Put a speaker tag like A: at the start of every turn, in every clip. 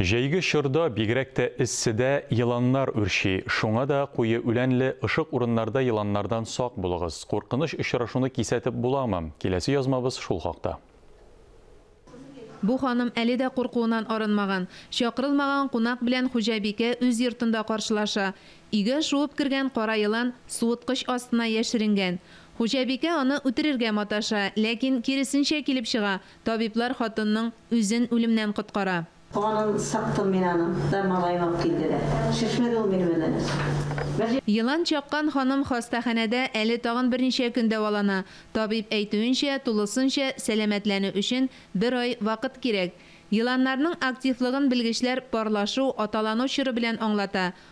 A: Җәйге чорда, бигрәк тә эсседә, еланнар үрчи, шуңа да куе үләнле, ышык урыннарда еланнардан сак булыгыз. Куркыныч очрашуны кисәтеп буламы? Киләсе язмабыз шул хакта.
B: Бу ханым әле дә куркуыннан арынмаган. Чакырылмаган кунак белән хуҗабикә үз йортында каршылаша. Өйгә шуып кергән кара елан суыткыч астына яшеренгән. Хуҗабикә аны үтерергә маташа, ләкин киресенчә килеп чыга, табиблар хатынның. Үзен үлемнән коткара. Канын сыктым
C: мин аның. Да малаем алып килде дә. Шешмәде ул минем белән. Бер. Елан
B: чаккан ханым хастаханәдә әле тагын берничә көн дәвалана. Табиб әйтүенчә, тулысынча сәламәтләнү өчен бер ай вакыт кирәк. Еланнарның активлыгын белгечләр парлашу, аталану чоры белән аңлата.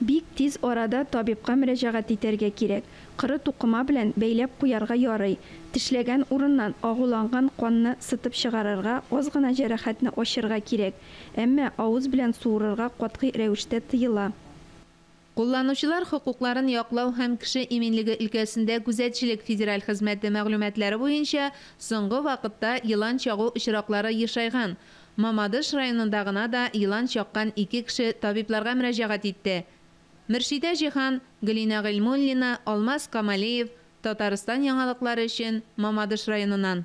C: Бик
D: тиз арада табибка мөрәҗәгать итәргә кирәк. Коры тукыма белән бәйләп куярга ярый. Тешләгән урыннан агуланган канны сытып чыгарырга, аз гына җәрәхәтне ачырга кирәк. Әмма авыз белән суырырга катгый рәвештә тыела.
B: Кулланучылар хокукларын яклау һәм кеше иминлеге өлкәсендә күзәтчелек федераль хезмәте мәгълүматлары буенча, соңгы вакытта елан чагу очраклары ешайган. Мамадыш районында гына да елан чаккан ике кеше табибларга мөрәҗәгать итте. Мөршидә Җиһан, Гөлинә Гыйльмуллина, Алмаз Камалиев, Татарстан яңалыклары өчен, Мамадыш районыннан.